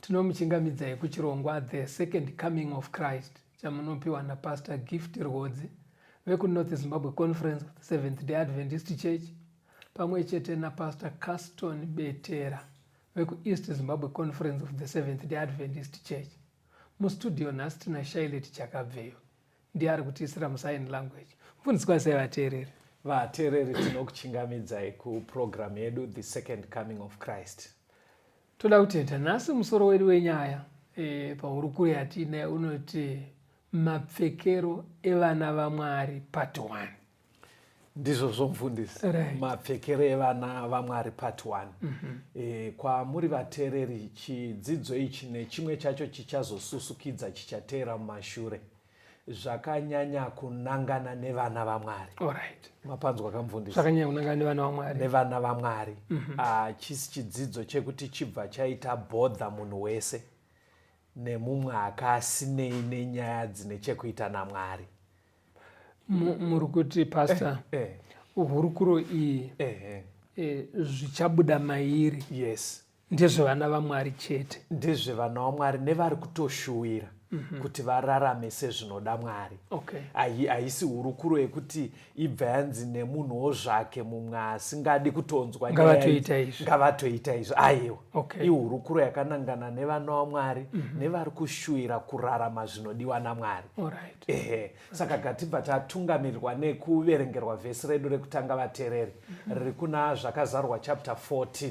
Tinomuchingamidzai kuchirongwa The Second Coming of Christ chamunopiwa naPastor Gift Rwodzi vekuNorth Zimbabwe Conference of the Seventh Day Adventist Church pamwe chete naPastor Caston Betera vekuEast Zimbabwe Conference of the Seventh Day Adventist Church. Mustudio nhasi tina Shailet Chakabveyo ndiye ari kutiisira musign language. Mfundziswa sei vateereri? Vateereri tinokuchingamidzai kupurogiramu yedu The Second Coming of Christ. Toda kutenda nhasi musoro wedu wenyaya e, pahurukuro yatiinaye unoti mapfekero evana vamwari part 1 ndizvo zvomfundisi right. mapfekero evana vamwari part 1 mm -hmm. e, eh, kwamuri vateereri chidzidzo ichi nechimwe chacho chichazosusukidza chichateera mumashure zvakanyanya kunangana nevana vamwari right. mapanzwa kamvundisi zvakanyanya kunangana nevana vamwari nevana vamwari mm -hmm. Ah, chisi chidzidzo chekuti chibva chaita bhodha munhu wese nemumwe akasinei nenyaya dzine chekuita namwari muri kuti pastor eh, eh. hurukuro iyi eh, eh. eh, zvichabuda mairi yes Ndezvevana vaMwari chete. Ndezvevana vaMwari nevari kutoshuwira mm -hmm. kuti vararame sezvinoda Mwari. Okay. Haisi hurukuro yekuti ibva yanzi nemunhuwo zvake mumwe asingadi kutonzwa ngavatoita izvi. Ngavatoita izvi. Aiwa. Okay. Ihurukuro yakanangana nevana vaMwari mm -hmm. nevari kushuwira kurarama zvinodiwa naMwari. All right. Ehe. Saka okay. gatibva tatungamirirwa nekuverengerwa vhesi redu rekutanga vatereri mm -hmm. riri kuna zvakazarwa chapter 14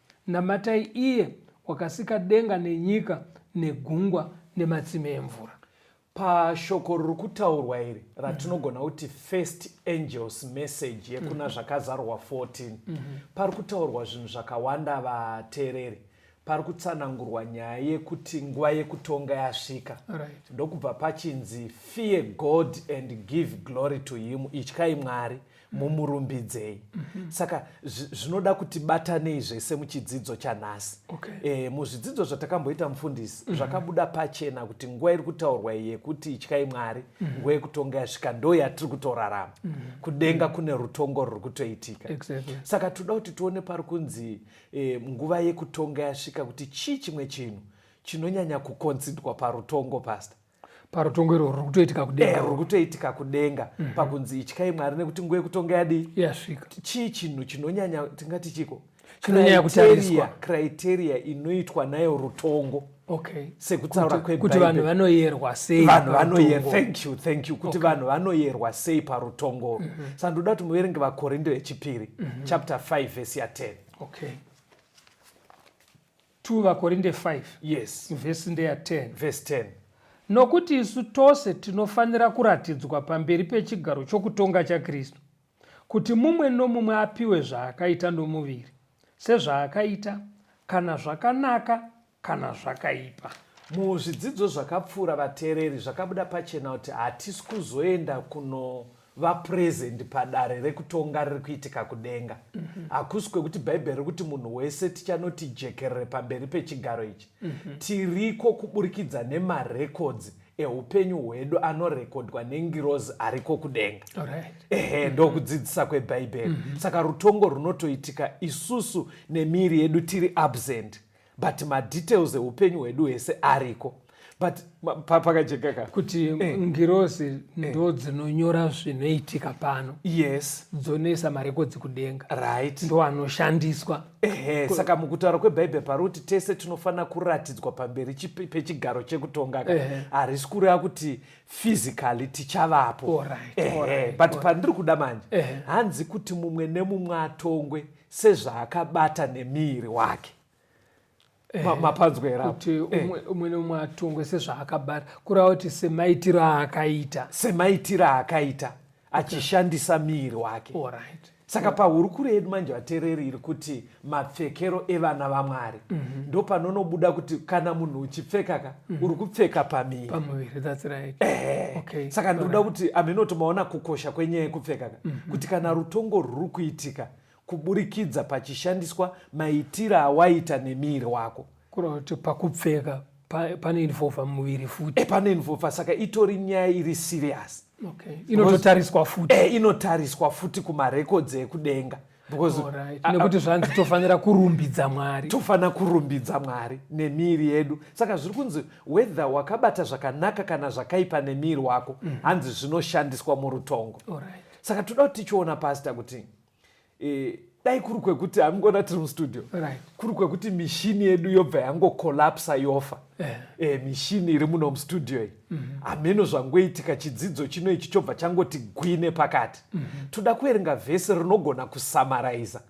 Namatai iye wakasika denga nenyika negungwa nematsime emvura. Pashoko riri kutaurwa iri ratinogona mm-hmm. kuti first angels message yekuna mm-hmm. zvakazarwa 14 mm-hmm. pari kutaurwa zvinhu zvakawanda vateereri pari kutsanangurwa nyaya yekuti nguva yekutonga yasvika right. ndokubva pachinzi fear god and give glory to him ityai mwari mumurumbidzei mm -hmm. saka zvinoda kuti batanei zvese muchidzidzo chanhasi okay. e, muzvidzidzo zvatakamboita mufundisi mm -hmm. zvakabuda pachena kuti nguva iri kutaurwa yekuti ityai mwari mm -hmm. nguva yekutonga yasvika ndo yatiri kutorarama mm -hmm. kudenga mm -hmm. kune rutongo ruri kutoitika exactly. saka toda kuti tione pari kunzi e, nguva yekutonga yasvika kuti chii chimwe chinhu chinonyanya kukonzidwa parutongo pasta parutongo irwo ruri kutoitika kudenga eh, ruri kutoitika kudenga mm -hmm. pakunzi ityai mwari nekuti nguva yekutonga yadii yasvika chii chinhu chinonyanya tingati chiko chinonyanya kutariswa criteria inoitwa nayo rutongo okay sekutaura kwe kuti vanhu vanoyerwa sei vanhu vanoyer thank you thank you kuti vanhu okay. vanoyerwa sei parutongo mm -hmm. saka ndoda kuti muverenge vakorinto yechipiri mm -hmm. chapter 5 vhesi ya 10 okay 2 vakorinde 5 yes vhesi ndeya 10 vhesi 10 nokuti isu tose tinofanira kuratidzwa pamberi pechigaro chokutonga chakristu kuti mumwe nomumwe apiwe zvaakaita nomuviri sezvaakaita kana zvakanaka kana zvakaipa muzvidzidzo zvakapfuura vateereri zvakabuda pachena kuti hatisi kuzoenda kuno vapresent padare rekutonga riri kuitika kudenga mhm. hakusi mm -hmm. kwekuti bhaibheri riri kuti munhu wese tichanoti jekerere pamberi pechigaro ichi mm -hmm. tiriko kuburikidza nemarekodzi eupenyu hwedu anorekodwa nengirozi ariko kudenga ehe ndokudzidzisa kwebhaibheri mhm. saka rutongo runotoitika isusu nemiiri yedu tiri absent but madetails eupenyu hwedu hwese ariko but pakajeka ka kuti eh. ngirosi eh. ndo dzinonyora zvinoitika pano yes dzonoisa marekodzi kudenga right ndo anoshandiswa ehe saka mukutaura kwebhaibheri pari kuti tese tinofanira kuratidzwa pamberi pechigaro chekutonga ka harisi kureva kuti physically tichavapo but pandiri kuda manje hanzi kuti mumwe nemumwe atongwe sezvaakabata nemiiri wake eh, mapanzwerakuti eh. umwe neumwe atongwe sezvaakabata kureva kuti semaitiro aakaita semaitiro aakaita achishandisa miiri wake right. saka yeah. pahurukuro yedu manje vatereri iri kuti mapfekero evana vamwari mm -hmm. ndopanonobuda kuti kana munhu uchipfekaka mm. uri kupfeka pamiri pamuviri that's right eh, okay. saka ndinoda right. kuti aminoti maona kukosha kwenyaya yekupfeka ka mm -hmm. kuti kana rutongo rwuri kuitika kuburikidza pachishandiswa maitiro awaita nemiri wako kureva kuti pakupfeka panoinvolva muviri futi e, panoinvolva saka itori nyaya iri serious okay. inototariswa futi e, inotariswa futi kumarekodzi ekudenga nekuti zvanzi tofanira kurumbidza mwari tofanira kurumbidza mwari nemiri yedu saka zviri kunzi whether wakabata zvakanaka kana zvakaipa nemiri wako mm -hmm. hanzi zvinoshandiswa murutongo right. saka toda kuti tichiona pasta kuti e, dai kuri kwekuti amingona tiri mustudio right. kuri kwekuti mishini yedu yobva yangokolapsa yofa yeah. e, eh, mishini iri muno mustudio iyi mm -hmm. hameno zvangoitika chidzidzo chino ichi chobva changoti gwine pakati mm -hmm. toda kuerenga vhesi rinogona kusamaraiza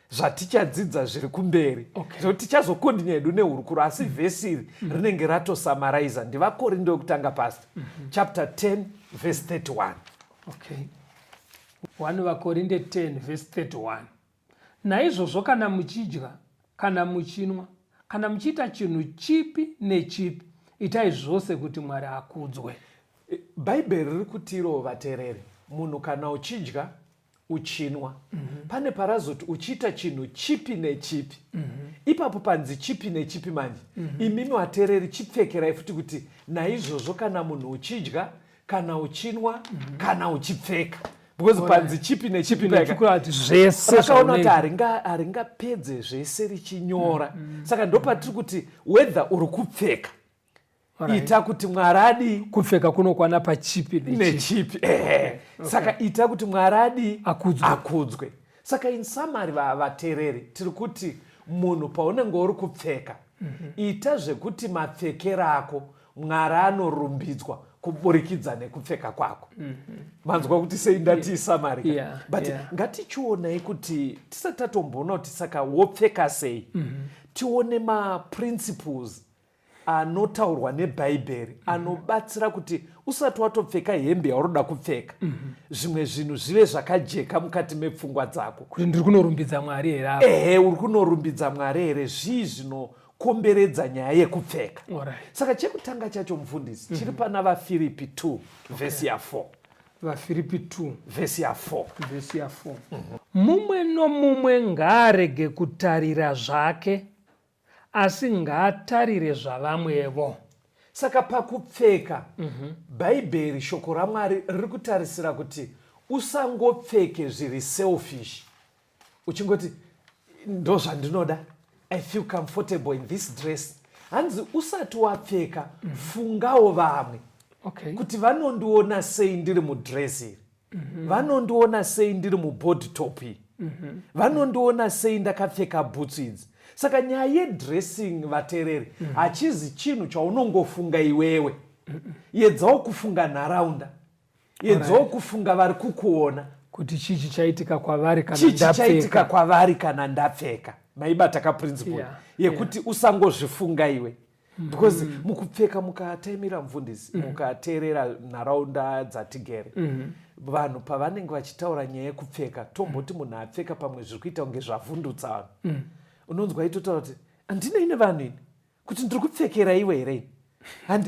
zvatichadzidza zviri kumberi okay. so tichazokondinya hedu nehurukuro asi mm -hmm. vhesi iri mm -hmm. rinenge ratosamaraiza ndivakorindo yokutanga pasta mm -hmm. chapter 10 vhesi 31 okay. 1 vakorinde 10 vhesi 31 Naizvozvo kana muchidya, kana muchinwa, kana muchiita chinhu chipi nechipi, itai zvose kuti Mwari akudzwe. Bhaibheri riri kutirowo vatereri, munhu kana uchidya, uchinwa mm -hmm. pane parazoti uchiita chinhu chipi nechipi mm -hmm. ipapo panzi chipi nechipi manje mm -hmm. imimi watereri chipfekerai futi kuti naizvozvo kana munhu uchidya kana uchinwa mm -hmm. kana uchipfeka because panzi chipi nechipi zvesevakaona kuti haringapedze zvese richinyora mm, mm. saka ndopatiri kuti wether uri kupfeka ita kuti mwari adii kupfeka kunokwana pachipi nechipi ehe saka ita kuti mwari adii akudzwe saka in summary vatereri tiri kuti munhu paunenge uri kupfeka mhm. ita zvekuti mapfekero ako mwari anorumbidzwa kuburikidza nekupfeka kwako mhm. manzwa mm -hmm. kuti sei ndati isamarika yeah, but yeah. ngatichionai kuti tisati tatomboona kuti saka wopfeka sei mm -hmm. tione maprinciples anotaurwa nebhaibheri mm -hmm. anobatsira kuti usati watopfeka hembe yaunoda kupfeka mm -hmm. zvimwe zvinhu zvive zvakajeka mukati mepfungwa dzako kuti ndiri kunorumbidza mwari here ehe uri kunorumbidza mwari here zvii zvino komberedza nyaya yekupfeka right. saka chekutanga chacho mufundisi mm -hmm. chiri pana vafiripi 2 okay. vhesi ya 4 vafiripi 2 vhesi ya 4 vhesi ya 4 mm -hmm. mumwe nomumwe ngaarege kutarira zvake asi ngaatarire zvavamwevo saka pakupfeka mm -hmm. bhaibheri shoko ramwari riri kutarisira kuti usangopfeke zviri selfish uchingoti ndozvandinoda i feel comfortable in this dress hanzi usati wapfeka mm. fungawo vamwe okay. kuti vanondiona sei ndiri mudress iri mm -hmm. vanondiona sei ndiri mubody top iri mm -hmm. vanondiona sei ndakapfeka bhutsu idzi saka nyaya yedressing vatereri mm -hmm. hachizi chinhu chaunongofunga iwewe mm -mm. yedzawo kufunga nharaunda Edzoo kufunga vari kukuona kuti chii chichaitika kwavari kana chii chichaitika kwavari kana ndapfeka maibata kaprinciple yeah, yekuti yeah. usangozvifunga iwe mm-hmm. because mm -hmm. mukupfeka mukataimira mfundisi mm -hmm. mukateerera nharaunda dzatigere mm -hmm vanhu pavanenge vachitaura nyaya yekupfeka tomboti munhu apfeka pamwe zviri kuita kunge zvavhundutsa vanhu mm. unonzwa itotaura kuti handinei nevanhu ini kuti ndiri kupfekera iwe here ini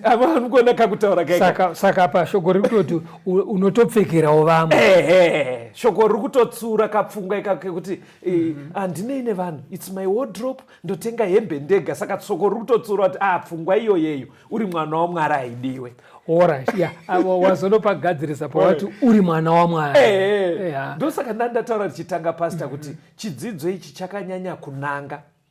anogona kakutaura kaika saka apa shoko riri kutoti unotopfekerawo vamwe ehe shoko riri kutotsura kapfungwa ika kekuti eh, handinei nevanhu its my wardrop ndotenga hembe ndega saka shoko riri kutotsura kuti ah pfungwa iyoyeyo uri mwana wamwari haidiwe orit ya wazonopagadzirisa pawati uri mwana wamwari ndosaka ndandataura tichitanga pasta kuti chidzidzo ichi chakanyanya kunanga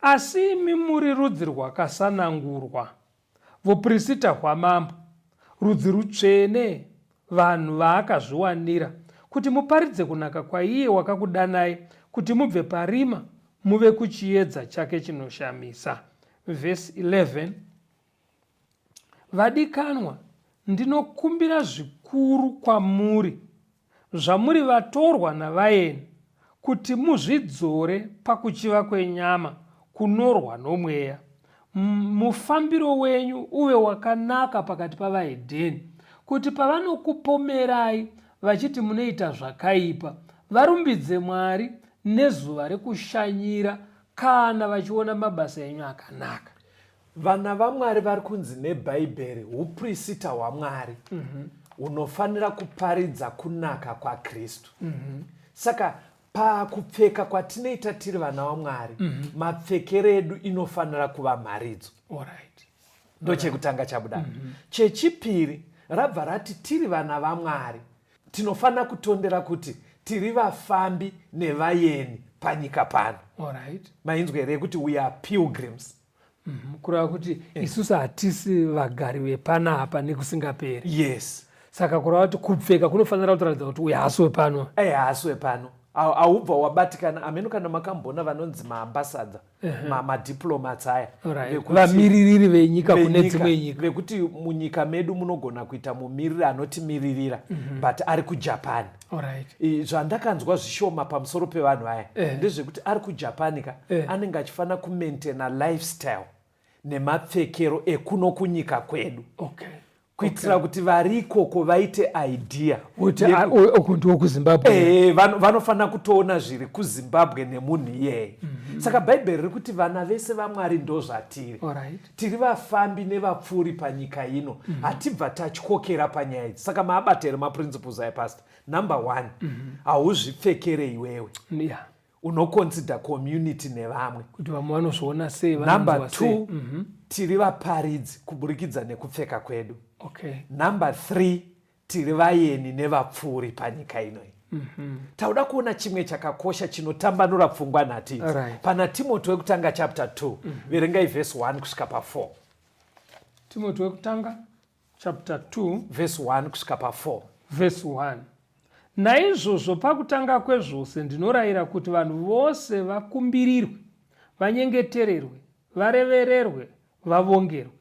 Asi imi muri rudzi rwakasanangurwa, vuprisita hwamambo, rudzi rutsvene, vanhu vaakazviwanira, kuti muparidze kunaka kwaiye wakakudanai kuti mubve parima muve kuchiedza chake chinoshamisa. Vhesi 11 Vadikanwa, ndinokumbira zvikuru kwamuri zvamuri vatorwa navaeni kuti muzvidzore pakuchiva kwenyama kunorwa nomweya mufambiro wenyu uve wakanaka pakati pavahedheni kuti pavanokupomerai vachiti munoita zvakaipa varumbidze mwari nezuva rekushanyira kana vachiona mabasa enyu akanaka Vana vaMwari vari kunzi neBhaibheri huprisita hwaMwari mm-hmm. hunofanira kuparidza kunaka kwaKristu. Mm-hmm. Saka pakupfeka kwatinoita tiri vana vaMwari mm-hmm. mapfekero edu inofanira kuva mharidzo. Ndochekutanga chabuda. Chechipiri rabva rati tiri vana vaMwari tinofanira kutondera kuti tiri vafambi nevayeni panyika pano. Mainzwa here yekuti we are pilgrims. Mhm, kureva kuti eh. isusu hatisi vagari vepanapa nekusingaperi yes saka kureva kuti kupfeka kunofanira kutaridza kuti uyu haasi wepano eh, haasi wepano aubva wabatikana ameno kana makambona vanonzi maambasadha madiplomats aya vamiririri venyika kune dzimwe nyika vekuti munyika medu munogona kuita mumiriri anotimiririra mhm. but ari kujapan Right. zvandakanzwa zvishoma pamusoro pevanhu aya eh. ndezvekuti ari kujapan ka eh. anenge achifanira kumaintaina lifestyle nemapfekero ekuno kunyika kwedu okay kuitira okay. kuti vari ikoko vaite idea uku ndiwo kuzimbabwe eh, vanofanira kutoona zviri kuzimbabwe nemunhu iyeye mm -hmm. saka bhaibheri riri kuti vana vese vamwari ndozvatiri right. tiri vafambi nevapfuuri panyika ino mm -hmm. hatibva tatyokera panyaya idzi saka maabata here maprinciples aya pastor number one mhm. hauzvipfekere mm -hmm. iwewe yeah. unoconsida community nevamwe kuti vamwe vanozviona sei number two mm -hmm. tiri vaparidzi kuburikidza nekupfeka kwedu okay. number three Tiri vayeni nevapfuuri panyika ino iyi. Mm -hmm. Tauda kuona chimwe chakakosha chinotambanura pfungwa nhatu idzi. Right. Pana Timoti wekutanga chapter 2, mm -hmm. verengai verse 1 kusvika pa 4. Timoti wekutanga chapter 2 verse 1 kusvika pa 4. Verse 1. Naizvozvo pakutanga kwezvose ndinorayira kuti vanhu vose vakumbirirwe, vanyengetererwe, varevererwe, vavongerwe.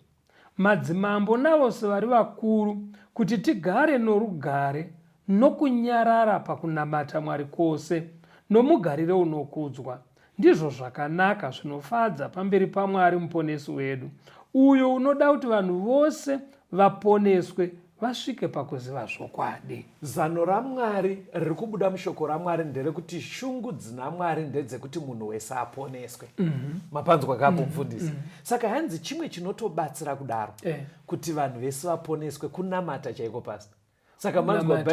madzimambo navose vari vakuru kuti tigare norugare nokunyarara pakunamata Mwari kwose nomugariro unokudzwa. Ndizvo zvakanaka, zvinofadza pamberi paMwari Muponesi wedu, uyo unoda kuti vanhu vose vaponeswe vasvike pakuziva zvokwadi. Zano raMwari riri kubuda mushoko raMwari nderekuti shungu dzina Mwari ndedzekuti munhu wese aponeswe. mm -hmm. mapanzwa kapo mhm. mfundisi. mm -hmm. Saka hanzi chimwe chinotobatsira kudaro eh. kuti vanhu vese vaponeswe kunamata chaiko pasta saka manzwa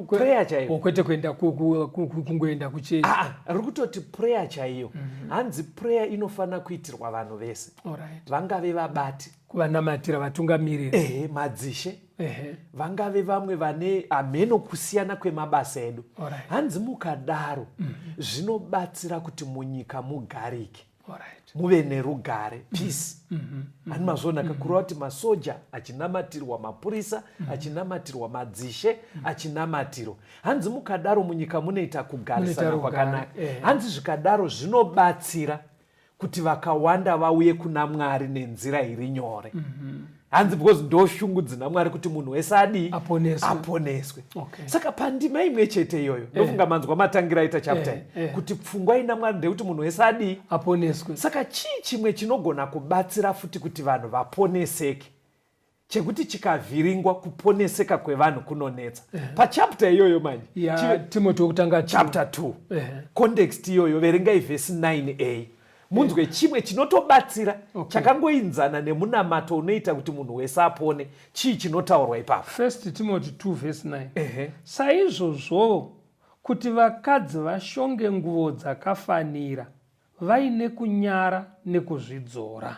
prayer chaiyo kwete kuenda kungoenda kuchechi ah, ah, ri kutoti prayer chaiyo mhm. hanzi prayer inofanira kuitirwa vanhu vese vangave vabati kuvanamatira vatungamiriri ehe madzishe ehe vangave vamwe vane hameno kusiyana kwemabasa edu Alright. hanzi mukadaro zvinobatsira kuti munyika mugarike alright muve nerugare peace ani mazvonaka kureva kuti masoja achinamatirwa mapurisa achinamatirwa madzishe achinamatirwa hanzi mukadaro munyika munoita kugarisana Munoita rugare, kwakanaka eh. hanzi zvikadaro zvinobatsira kuti vakawanda vauye kuna mwari nenzira iri nyore mm -hmm. hanzi because ndo shungu dzina mwari kuti munhu wese adii aponeswe, aponeswe. Okay. saka pandima imwe chete iyoyo eh. ndofunga eh. manzwa matangira aita chapter eh. Eh. kuti pfungwa ina mwari ndeyekuti munhu wese adii aponeswe saka chii chimwe chinogona kubatsira futi kuti vanhu vaponeseke chekuti chikavhiringwa kuponeseka kwevanhu kunonetsa uh -huh. pachapta iyoyo manje yeah, timoti wekutanga chapta 2 uh -huh. context iyoyo verengai vhesi 9a munzwe yeah. chimwe chinotobatsira okay. chakangoinzana nemunamato unoita kuti munhu wese apone chii chinotaurwa ipapo first timoti 2 vhesi 9 uh -huh. saizvozvowo kuti vakadzi vashonge nguvo dzakafanira vaine kunyara nekuzvidzora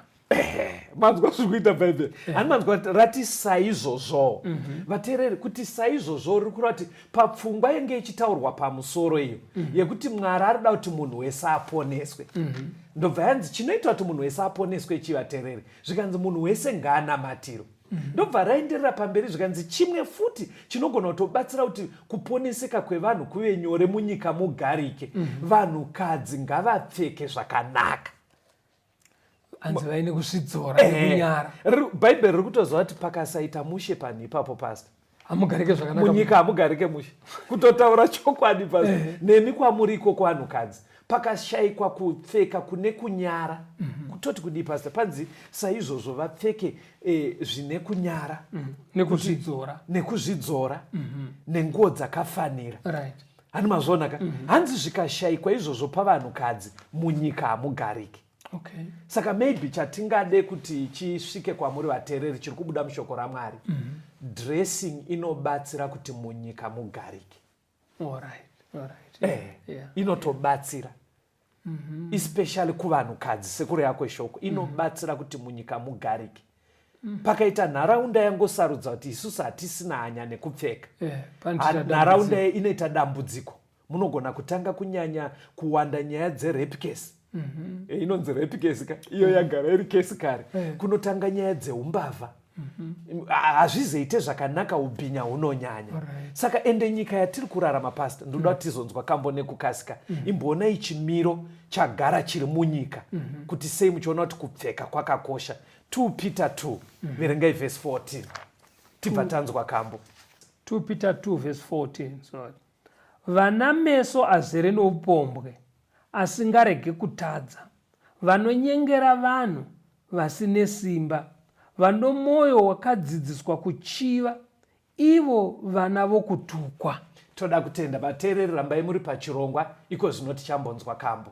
manzwa zviri kuita bhaibheri ani manzwa vati rati saizvozvowo mhm. vateereri kuti saizvozvowo riri kureva kuti papfungwa yenge ichitaurwa pamusoro iyo mhm. yekuti mwari ari kuda kuti munhu wese aponeswe mhm. ndobva yanzi chinoita kuti munhu wese aponeswe chii vateereri zvikanzi munhu wese ngaanamatirwe Mhm. ndobva raenderera pamberi zvikanzi chimwe futi chinogona kutobatsira kuti kuponeseka kwevanhu kuve nyore munyika mugarike mhm. vanhukadzi ngavapfeke zvakanaka hanzi vaine kuzvidzora eh, nekunyara bhaibheri riri kutoziva kuti pakasaita mushe panhu ipapo pasta hamugarike zvakanaka munyika hamugarike mushe kutotaura chokwadi pa eh. nemi kwamuri ikoko vanhukadzi pakashaikwa kupfeka kune kunyara mm -hmm. kutoti kudii pasta panzi saizvozvo vapfeke eh, zvine kunyara mm -hmm. nekuzvidzora nekuzvidzora mm -hmm. nenguo dzakafanira right hanzi mazvionaka mm -hmm. hanzi zvikashaikwa izvozvo pavanhukadzi munyika hamugarike okay. saka maybe chatingade kuti chisvike kwamuri vateereri chiri kubuda mushoko ramwari mm -hmm. dressing inobatsira kuti munyika mugarike right. Right. Yeah. Eh, yeah. inotobatsira yeah mm -hmm. especially kuvanhukadzi sekureva kweshoko mhm. inobatsira kuti munyika mugarike mhm. pakaita nharaunda yangosarudza kuti isusu hatisina hanya nekupfeka eh, nharaunda inoita dambudziko munogona kutanga kunyanya kuwanda nyaya dzerape case mm -hmm. e, inonzi rape case ka iyo mm -hmm. yagara iri case kare mm -hmm. kunotanga nyaya dzeumbavha mhm. hazvizoite mm -hmm. zvakanaka ubhinya hunonyanya right. saka ende nyika yatiri kurarama pasta ndoda mhm. kuti mm -hmm. tizonzwa kambo nekukasika mm -hmm. imboonai chimiro chagara chiri munyika mm -hmm. kuti sei muchiona kuti kupfeka kwakakosha 2 peter 2 mm -hmm. verengai vhesi 14 tibva tanzwa kambo 2 peter 2 vhesi 14 sorry Vana meso azere noupombwe, asingarege kutadza, vanonyengera vanhu vasine simba, vanomwoyo wakadzidziswa kuchiva, ivo vana vokutukwa. Toda kutenda vateereri rambai muri pachirongwa iko zvino tichambonzwa kambo.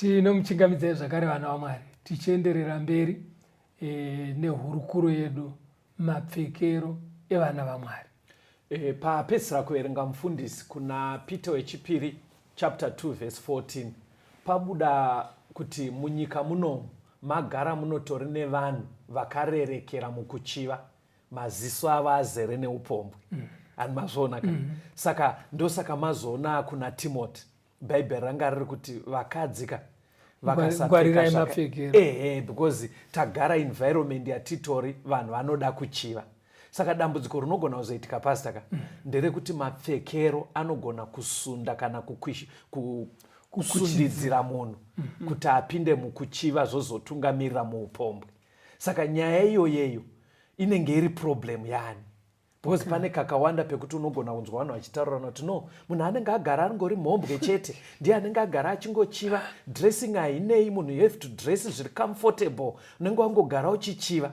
tinomuchingamidzai zvakare vana vamwari tichienderera mberi e, nehurukuro yedu mapfekero evana vamwari e, papedzisira kuverenga mufundisi kuna peter wechipiri chapter 2 vhesi 14 pabuda kuti munyika munomu Magara munotori nevanhu vakarerekera mukuchiva maziso avo azere neupombwe mm. ani mazviona ka mm. saka ndosaka mazoona akuna timoti bhaibheri ranga riri kuti vakadzi ka vakasapfeka ehe because tagara environment yatitori vanhu vanoda kuchiva saka dambudziko rinogona kuzoitika pasta ka mm. nderekuti mapfekero anogona kusunda kana kukwishi ku, kusundidzira munhu mm -hmm. kuti apinde mukuchiva zvozotungamirira muupombwe saka nyaya iyoyeyo inenge iri problem yani because okay. pane kakawanda pekuti unogona kunzwa vanhu vachitaurana kuti no munhu anenge agara angori mhombwe chete ndiye anenge agara achingochiva dressing hainei munhu you have to dress zviri comfortable unenge wangogara uchichiva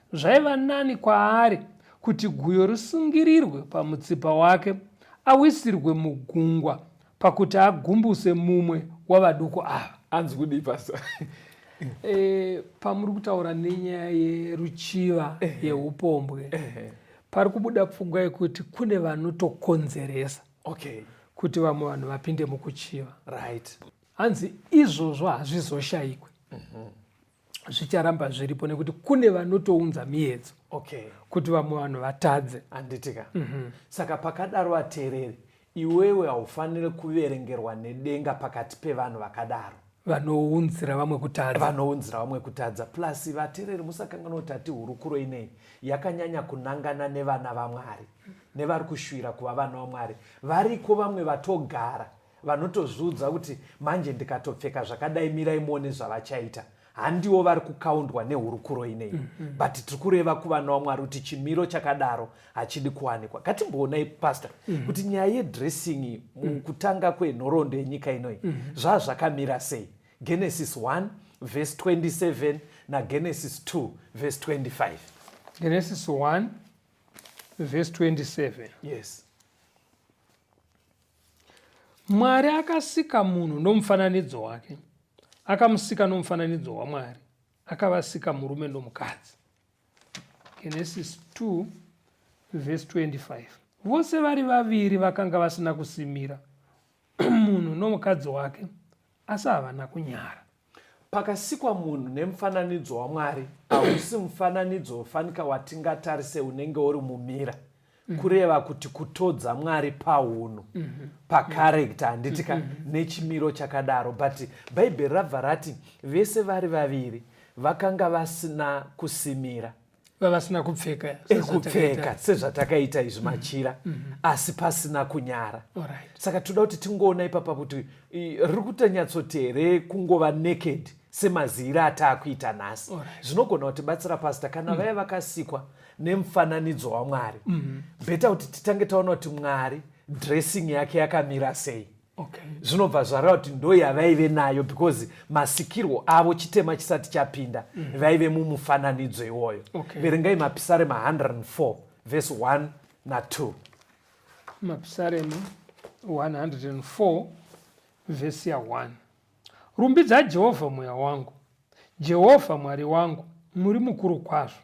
Zvaiva nani kwaari kuti guyo risungirirwe pamutsipa wake awisirwe mugungwa pakuti agumbuse mumwe wavaduku ava. Anzi kudii pasa? e, pamuri kutaura nenyaya yeruchiva yeupombwe pari kubuda pfungwa yekuti kune vanotokonzeresa okay. kuti vamwe vanhu vapinde mukuchiva right. Hanzi izvozvo hazvizoshayikwe mm -hmm. zvicharamba zviripo nekuti kune vanotounza miyedzo okay. kuti vamwe vanhu vatadze anditika mm -hmm. saka pakadaro vateereri iwewe haufanire kuverengerwa nedenga pakati pevanhu vakadaro vanounzira vamwe kutadza vanounzira vamwe kutadza plus vateereri musakanganwa kuti ati hurukuro inei yakanyanya kunangana nevana vamwari nevari kushuvira kuva vana vamwari variko vamwe vatogara vanotozviudza kuti manje ndikatopfeka zvakadai mirai muone zvavachaita handiwo vari kukaundwa nehurukuro inei mm -hmm. but tiri kureva kuvana wamwari kuti chimiro chakadaro hachidi kuwanikwa katimboonai pastor mm -hmm. kuti nyaya yedressing mukutanga mm -hmm. kwenhoroondo yenyika inoi mm -hmm. zvaa zvakamira sei genesis 1 vhesi 27 nagenesis 2 vhesi 25 genesis 1 vhesi 27 yes Mwari akasika munhu nomufananidzo wake, akamusika nomufananidzo waMwari, akavasika murume nomukadzi. Genesis 2 vhesi 25 vose vari vaviri vakanga vasina kusimira munhu nomukadzi wake Asi havana kunyara. Pakasikwa munhu nemufananidzo waMwari, hausi mufananidzo wofanika watingatarise unenge uri mumira. Mm-hmm. kureva kuti kutodza mwari paunhu mm-hmm. pacharector handiti ka mm-hmm. nechimiro chakadaro but bhaibheri rabva rati vese vari vaviri vakanga vasina kusimira vavasina kupfeka ekupfeka sezvatakaita izvi mm-hmm. machira mm -hmm. asi pasina kunyara right. saka toda kuti tingoona ipapa kuti riri kutanyatsoti here kungova naked semaziiro ataakuita nhasi zvinogona right. kutibatsira pasta kana mm. vaya vakasikwa nemufananidzo wamwari mm -hmm. bheta kuti titange taona kuti mwari dressing yake yakamira sei okay. zvinobva zvareva kuti ndo yavaive nayo because masikirwo avo chitema chisati chapinda mm -hmm. vaive mumufananidzo iwoyo okay. verengai mapisarema 104 vhesi 1 na 2 mapisarema 104 vhesi ya 1 rumbidza jehovha mweya wangu jehovha mwari wangu muri mukuru kwazvo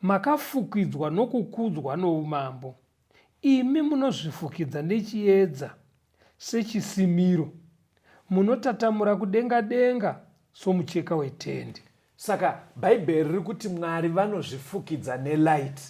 Makafukidzwa nokukudzwa noumambo, imi munozvifukidza nechiedza sechisimiro, munotatamura kudenga denga somucheka wetende. Saka Bhaibheri riri kuti Mwari vanozvifukidza nelight,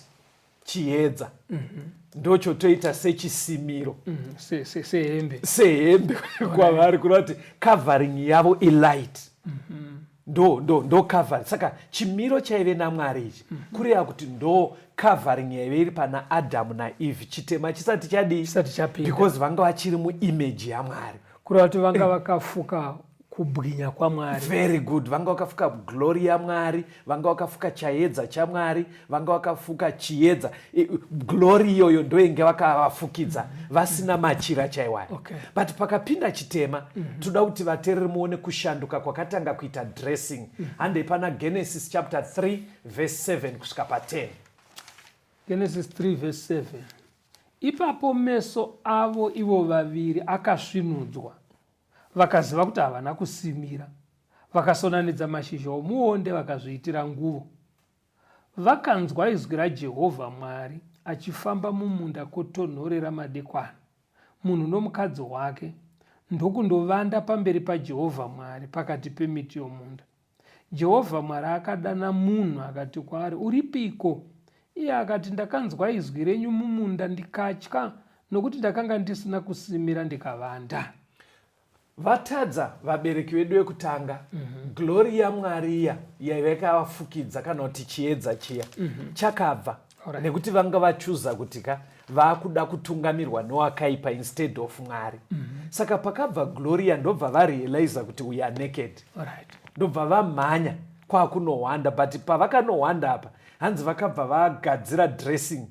chiedza. Mm -hmm. Ndochotoita sechisimiro. Mm -hmm. se, se, sehembe. Sehembe kwavari kureva kuti covering yavo ilight. Mm -hmm. ndo ndo ndo cover saka chimiro chaive namwari ichi mm -hmm. kureva kuti ndo covering yaive iri pana adamu naeve chitema chisati chadii chisati chapinda because vanga vachiri muimeji yamwari kureva kuti vanga eh. vakafuka kubwinya kwamwari very good vanga vakafuka glory yamwari vanga vakafuka chayedza chamwari vanga vakafuka chiedza glori iyoyo ndoinge vakavafukidza vasina machira chaiwayo okay. but pakapinda chitema mm -hmm. toda kuti vatereri muone kushanduka kwakatanga kuita dressing mm -hmm. handei pana genesis chapter 3 verse 7 kusvika pa10 genesis 3 verse 7 ipapo meso avo ivo vaviri akasvinudzwa vakaziva kuti havana kusimira vakasonanidza mashizha omuonde vakazviitira nguvo Vakanzwa izwi raJehovha Mwari achifamba mumunda kwotonhorera madekwana, munhu nomukadzi wake, ndokundovanda pamberi paJehovha Mwari pakati pemiti yomunda. Jehovha Mwari akadana munhu akati kwaari, Uripiko? Iye akati, Ndakanzwa izwi renyu mumunda ndikatya, nokuti ndakanga ndisina kusimira ndikavanda. Vatadza vabereki vedu vekutanga mm -hmm. glori yamwari iya yaiva yakavafukidza kana kuti chiedza chiya mm -hmm. chakabva right. nekuti vanga vachuza kuti ka vakuda kutungamirwa nowakaipa instead of mwari mm -hmm. saka pakabva gloria ndobva varealiza kuti we are naked right. ndobva vamhanya kwakunohwanda but pavakanohwanda apa hanzi vakabva vagadzira dressing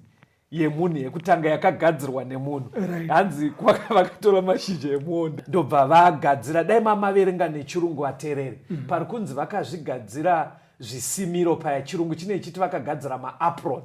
yemunhu yekutanga yakagadzirwa nemunhu hanzi kwaka vakatora mashizha emuonda ndobva vagadzira dai mamaverenga nechirungu vaterere mhm. pari kunzi vakazvigadzira zvisimiro paya chirungu chine chiti vakagadzira maapron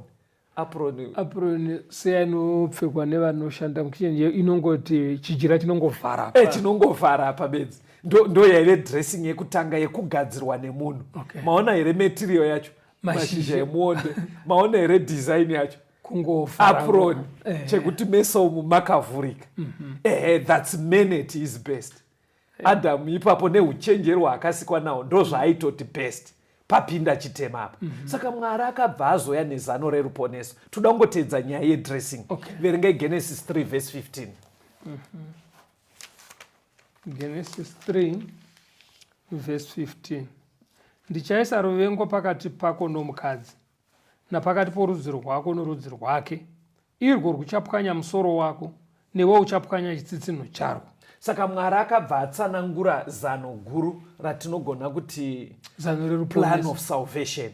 apron apron seya inopfekwa nevanoshanda mukichen inongoti chijira chinongovhara e chinongovhara apa bedzi ndo yaive dressing yekutanga yekugadzirwa nemunhu okay. maona here material yacho mashizha emuonde maona here design yacho kungoapron eh. chekuti meso umu makavhurika mhm. ehe thats menet is best eh. adamu ipapo neuchenjeri waakasikwa nawo ndozvaaitoti best papinda chitema apa mm -hmm. saka mwari akabva azoya nezano reruponeso toda kungoteedza nyaya yedressing okay. verengai genesis 3 vhesi 15 mm -hmm. Genesis 3 verse 15 ndichaisa ruvengo pakati pako nomukadzi napakati porudzi rwako norudzi rwake irwo rwuchapwanya musoro wako newe uchapwanya chitsitsinho charwo saka mwari akabva atsanangura zano guru ratinogona kuti plan of salvation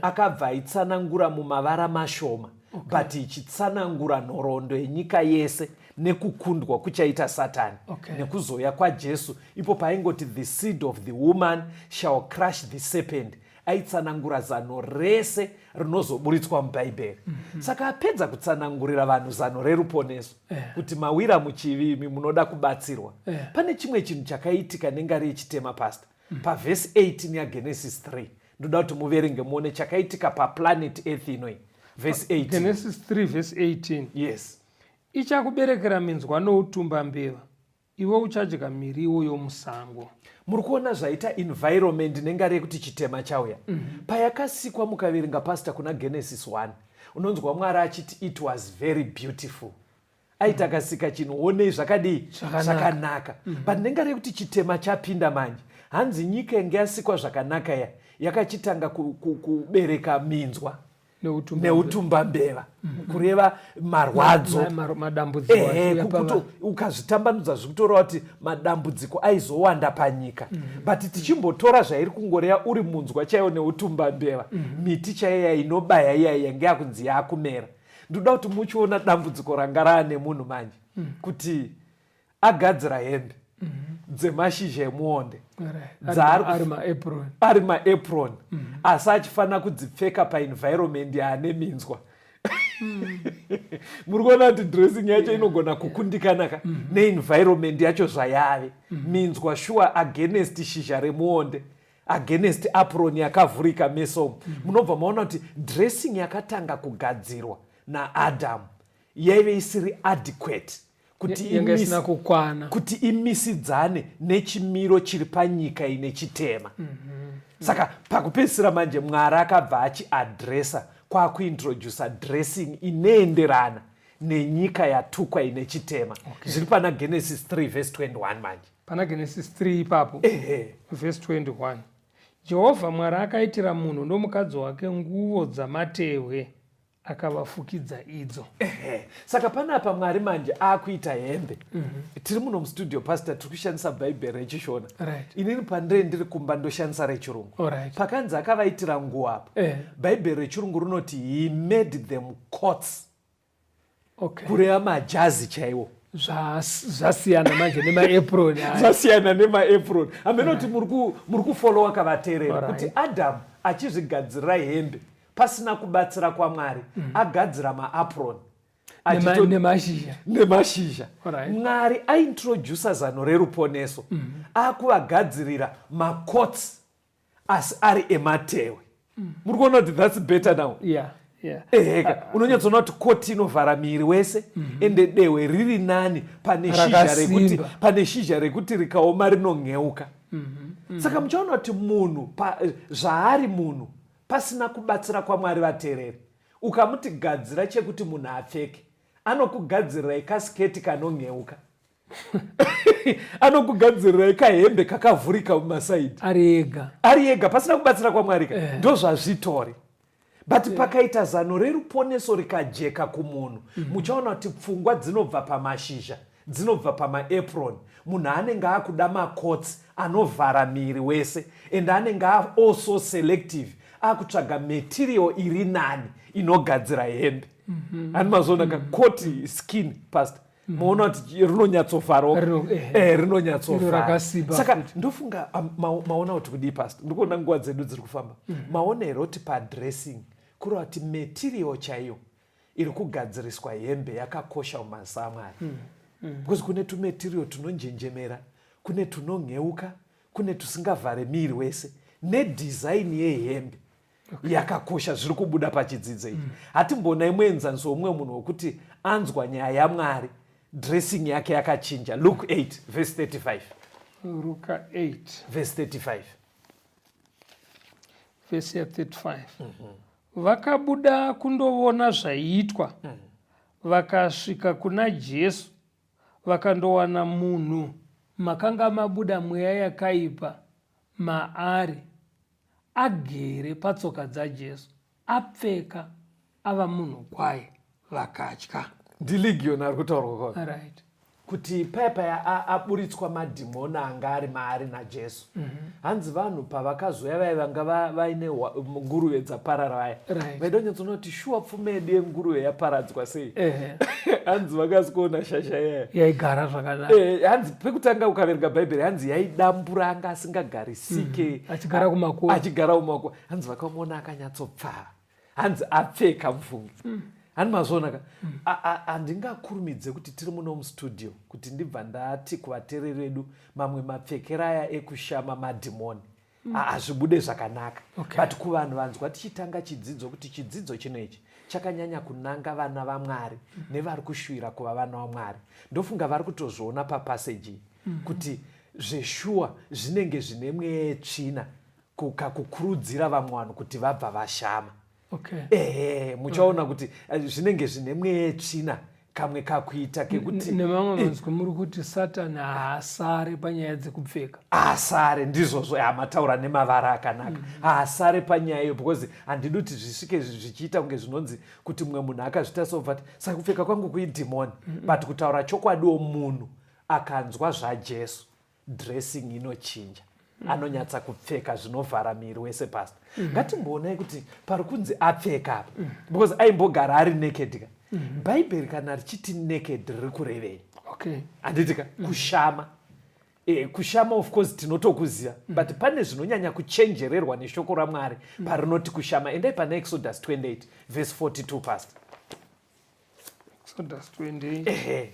akabva aitsanangura mumavara mashoma okay. but ichitsanangura nhoroondo yenyika yese nekukundwa kuchaita satani okay. nekuzouya kwajesu ipo paaingoti the seed of the woman shall crush the serpent aitsanangura zano rese rinozoburitswa mubhaibheri mm -hmm. saka apedza kutsanangurira vanhu zano reruponeso yeah. kuti mawira muchivimi munoda kubatsirwa yeah. pane chimwe chinhu chakaitika nengari yechitema pasta mm -hmm. pavhesi 18 yagenesis 3 ndoda kuti muverenge muone chakaitika paplanet earth inoi vhesi 18 genesis 3 vhesi 18 yes Ichakuberekera minzwa noutumba mbeva, iwe uchadya miriwo yomusango. Muri kuona zvaita environment nengari yekuti chitema chauya. Mm -hmm. Payakasikwa mukaverenga pastor kuna Genesis 1, unonzwa Mwari achiti it was very beautiful. Aita mhm. akasika chinhu onei zvakadii zvakanaka. Mm -hmm. But nengari yekuti chitema chapinda manje. Hanzi nyika yange yasikwa zvakanaka ya yakachitanga kubereka ku, ku, minzwa. neutumba mbeva mm-hmm. kureva marwadzo ukazvitambanudza zvikutora kuti madambudziko aizowanda panyika mm-hmm. but tichimbotora zvairi kungoreya uri munzwa chaiyo neutumba mbeva mm-hmm. miti chaiya inobaya iyai yange yakunzi yakumera ndoda kuti muchiona dambudziko ranga raane munhu manje mm. kuti agadzira hembe mhm. dzemashizha emuonde ari maapron mhm. asi achifanira kudzipfeka paenvironment yaane minzwa mhm. muri kuona kuti dressing yacho inogona kukundikana ka neenvironment yacho zvayave minzwa sure against shizha remuonde mm -hmm against apron yakavhurika mesomo munobva maona kuti dressing yakatanga kugadzirwa naadamu yaive isiri adequate kuti imisidzane nechimiro chiri panyika ine chitema mm -hmm. saka pakupedzisira manje mwari akabva achiadresa kwakuintrodusa dressing inoenderana nenyika yatukwa ine chitema okay. zviri pana genesis 3 vhesi 21 manje pana genesis 3 ipapo vhesi 21 jehovha mwari akaitira munhu nomukadzi wake nguvo dzamatehwe akavafukidza idzo ehe saka panapa mwari manje akuita hembe mm -hmm. tiri muno mustudio pastor tiri kushandisa bhaibheri rechishona right. inini pandire ndiri kumba ndoshandisa rechirungu right. pakanzi akavaitira nguva apo eh. bhaibheri rechirungu rinoti he made them cots okay. kureva majazi chaiwo zvasiyana manje nemaapron zvasiyana nemaapron hameno kuti muri kufolowa kavateerera kuti adamu achizvigadzirira hembe pasina kubatsira kwamwari mm. agadzira maapron nemashizha nemashizha mwari aintroducer zano reruponeso mm. akuvagadzirira macots asi ari ematewe mm. muri kuona kuti thats better now yeah. Yeah. eheka uh, uh, unonyatsoona kuti koti inovhara miri wese mm -hmm. ende dehwe riri nani pane shizha rekuti pane shizha rekuti rikaoma rinonheuka mm -hmm. mm -hmm. saka muchaona kuti munhu eh, zvaari munhu pasina kubatsira kwamwari vatereri ukamuti gadzira chekuti munhu apfeke anokugadzirira ikasiketi kanonheuka anokugadzirirai kahembe kakavhurika mumasaidi ari ega ari ega pasina kubatsira kwamwari ka Eh. ndozvazvitori but pakaita zano reruponeso rikajeka kumunhu muchaona kuti pfungwa dzinobva pamashizha dzinobva pamaapron munhu anenge akuda makotsi anovhara miri wese and anenge a- also selective akutsvaga material iri nani inogadzira hembe ani mazoona ka koti skin past mhm. moona kuti rinonyatsofaroka eh, eh, rinonyatsofara saka ndofunga ah, maona kuti kudii past ndikuona nguva dzedu dziri kufamba mhm. maona here kuti padressing kureva kuti material chaiyo iri kugadziriswa hembe yakakosha mumazisa amwari mhm. because kune tumaterial tunonjenjemera kune tunonheuka kune tusingavhare miiri wese nedhizaini yehembe yakakosha zviri kubuda pachidzidzo ichi mm. hatimboona imwe enzaniso womumwe munhu wokuti anzwa nyaya yamwari dressing yake yakachinja luk 8 vhesi 35 ruka 8 vhesi 35 vhesi ya 35 vakabuda kundovona zvaiitwa mm. vakasvika kuna jesu vakandowana munhu makanga mabuda mweya yakaipa maari agere patsoka dzaJesu, apfeka, ava munhu kwaye, vakatya. NdiLegion ari kutaurwa kwaka. Right kuti paya paya aburitswa madhimoni anga ari maari najesu mm -hmm. hanzi vanhu pavakazoya vaya vanga vaine nguruve dzaparara vaya right. vaidonyatsoona kuti shuwa pfuma yedu yenguruve yaparadzwa sei hanzi vakazi kuona shasha yaya yaigara zvakanaka eh, hanzi pekutanga ukaverenga bhaibheri hanzi yaidambura anga asingagari ck mm-hmm. achigara kumakuva achigara kumakuva hanzi vakamuona akanyatsopfava hanzi apfeka mvungi mm. hani mazvionaka mm. handingakurumidze kuti tiri muno mustudio kuti ndibva ndati kuvatereri vedu mamwe mapfekera aya ekushama madhimoni mm. hazvibude zvakanaka but kuvanhu vanzwa tichitanga chidzidzo kuti chidzidzo chino ichi chakanyanya kunanga vana vamwari nevari kushuvira kuva vana vamwari ndofunga vari kutozviona papassage mm-hmm. kuti Zveshuwa zvinenge zvine mwetsvina kakukurudzira vamwe vanhu kuti vabva vashama. Okay. Ehe, muchaona mm. kuti eh, zvinenge zvine mwetsvina kamwe kakuita kekuti nemamwe eh. manzwi muri kuti satani haasare panyaya dzekupfeka haasare ndizvozvo hamataura nemavara akanaka mm. haasare panyaya iyo because handidi kuti zvisvike zvichiita kunge zvinonzi kuti mumwe munhu akazvita sobva ti saka kupfeka kwangu kuidhimoni mm. but kutaura chokwadiwo munhu akanzwa zvajesu dressing inochinja mm. anonyatsa kupfeka zvinovhara miri wese past mm. ngatimboonai kuti pari kunzi apfeka apa mm. because aimbogara ari naked ka mm. bhaibheri kana richiti naked riri kurevei okay. handiti ka mm. kushama e, kushama of course tinotokuziva mm. but pane zvinonyanya kuchenjererwa neshoko ramwari mm. parinoti kushama endai pana exodus 28 vese 42 past exodus 28 ehe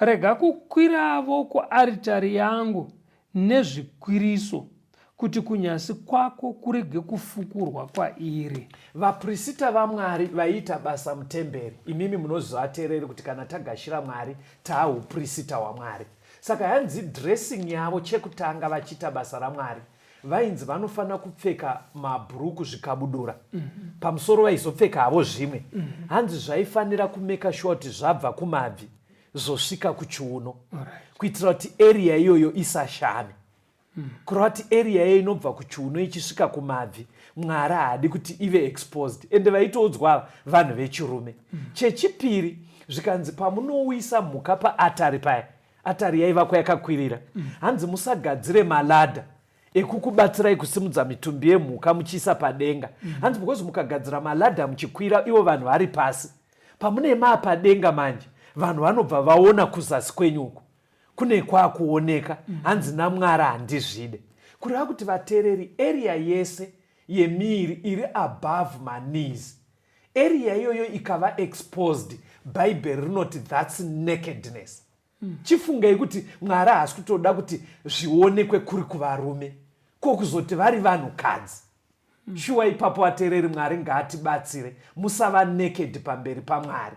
Rega kukwiravo kuaritari yangu nezvikwiriso, kuti kunyasi kwako kurege kufukurwa kwairi. Vaprisita vaMwari vaiita basa mutemberi. Imimi munoziva atereri kuti kana tagashira Mwari taa uprisita waMwari. Saka hanzi dressing yavo chekutanga vachiita basa raMwari. vainzi vanofanira kupfeka mabhuruku zvikabudura mm -hmm. pamusoro vaizopfeka havo zvimwe mm -hmm. hanzi zvaifanira kumeka shuwa kuti zvabva kumabvi zvosvika kuchiuno right. kuitira kuti eriya iyoyo isashame mm -hmm. kureva kuti eriya iyoyo inobva kuchiuno ichisvika kumabvi mwari haadi kuti ive exposed ende vaitoudzwa vanhu vechirume mm -hmm. chechipiri zvikanzi pamunouyisa mhuka paatari paya Atari yaivakwa yakakwirira. Hanzi musagadzire maladha ekukubatsirai kusimudza mitumbi yemhuka muchiisa padenga. Hanzi because mukagadzira maladha muchikwira ivo vanhu vari pasi. Pamune maa padenga manje vanhu vanobva vaona kuzasi kwenyu uku kune kwakuoneka hanzi namwara handizvide kureva kuti vatereri area yese yemiiri iri above manees area iyoyo ikava exposed bhaibheri rinoti thats nakedness mm. chifungei kuti mwari haasi kutoda kuti zvionekwe kuri kuvarume ko kuzoti vari vanhukadzi mm. shuwa ipapo ateereri mwari ngaatibatsire musava naked pamberi pamwari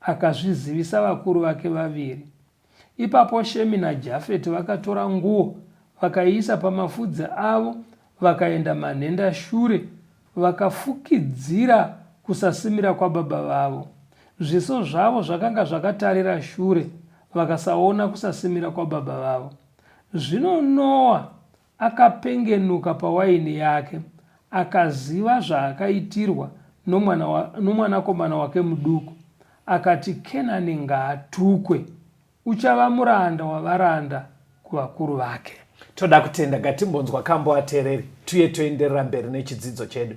Akazvizivisa vakuru vake vaviri. Ipapo Shemi naJafeti vakatora nguo vakaiisa pamafudzi avo vakaenda manhenda shure vakafukidzira kusasimira kwababa vavo. Zviso zvavo zvakanga zvakatarira shure vakasaona kusasimira kwababa vavo. Zvino Noa Akapengenuka pawaini yake akaziva zvaakaitirwa nomwana wa, nomwanakomana wake muduku. Akati, Kenani ngaatukwe! Uchava muranda wavaranda kuvakuru vake. Toda kutenda. Ngatimbonzwa kambo atereri tuye toenderera mberi nechidzidzo chedu.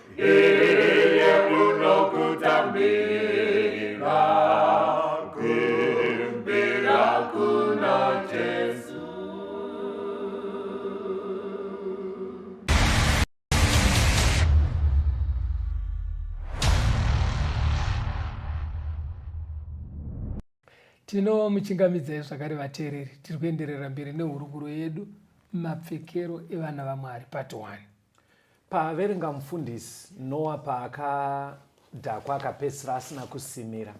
iye unokutambira kumbira kuna jesu tinomuchingamidzai zvakare vateereri tiri kuenderera mberi nehurukuro yedu mapfekero evana vamwari part 1 Paaverenga mufundisi Noa paakadhakwa akapedzisira asina kusimira.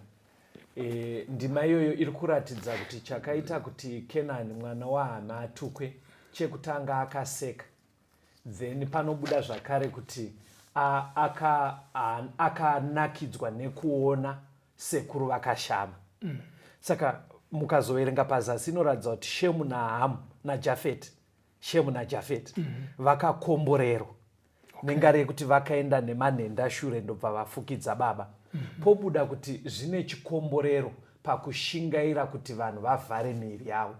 E, ndima iyoyo iri kuratidza kuti chakaita kuti Kenani mwana waHana atukwe chekutanga akaseka then panobuda zvakare kuti akanakidzwa aka nekuona sekuru vakashama mm. saka mukazoverenga pazasi inoratidza kuti shemu nahamu najafeti shemu najafet mm -hmm. vakakomborerwa okay. nengari yekuti vakaenda nemanhenda shure ndobva vafukidza baba mm -hmm. pobuda kuti zvine chikomborero pakushingaira kuti vanhu vavhare miiri yavo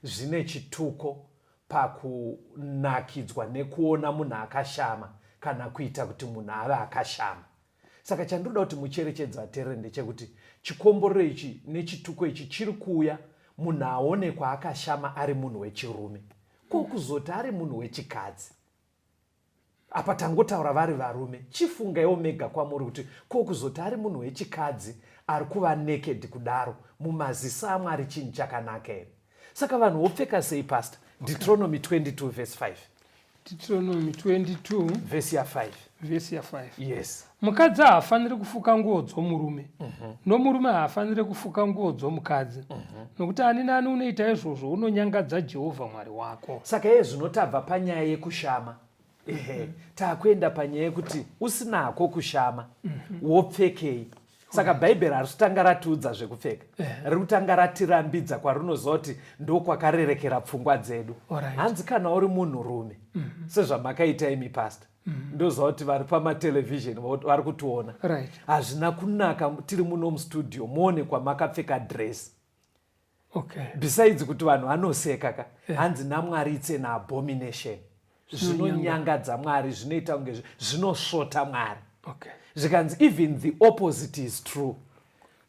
zvine chituko pakunakidzwa nekuona munhu akashama kana kuita kuti munhu ave akashama saka chandinoda kuti mucherechedza aterere ndechekuti chikomborero ichi nechituko ichi chiri kuuya munhu aonekwa akashama ari munhu wechirume ko kuzoti ari munhu wechikadzi apa tangotaura vari varume chifungaiwo mega kwamuri kuti ko kuzoti ari munhu wechikadzi ari kuva naked kudaro mumaziso amwari chinhu chakanaka here saka vanhu vopfeka sei pastor deuteronomy 22 verse 5 deuteronomy 22 verse ya 5 verse ya 5 yes mukadzi haafaniri kufuka nguo dzomurume mm -hmm. nomurume haafaniri kufuka nguo dzomukadzi mm -hmm. nokuti ani nani unoita izvozvo unonyangadza jehovha mwari wako saka iye zvinotabva panyaya yekushama ehe takuenda panyaya yekuti usinako kushama mhm. wopfekei saka bhaibheri harisitanga ratiudza zvekupfeka eh. riri kutanga ratirambidza kwarinozoti ndokwakarerekera pfungwa dzedu hanzi kana uri munhurume mhm. sezvamakaita imi pasta mhm. ndoziva kuti vari pamatelevhizheni vari kutiona hazvina kunaka tiri muno mustudio muone kwamakapfeka dress okay. besides kuti vanhu vanoseka ka yeah. hanzi namwari it's an abomination zvinonyangadza mwari zvinoita kunge zvinosvota mwari okay. zvikanzi even the opposite is true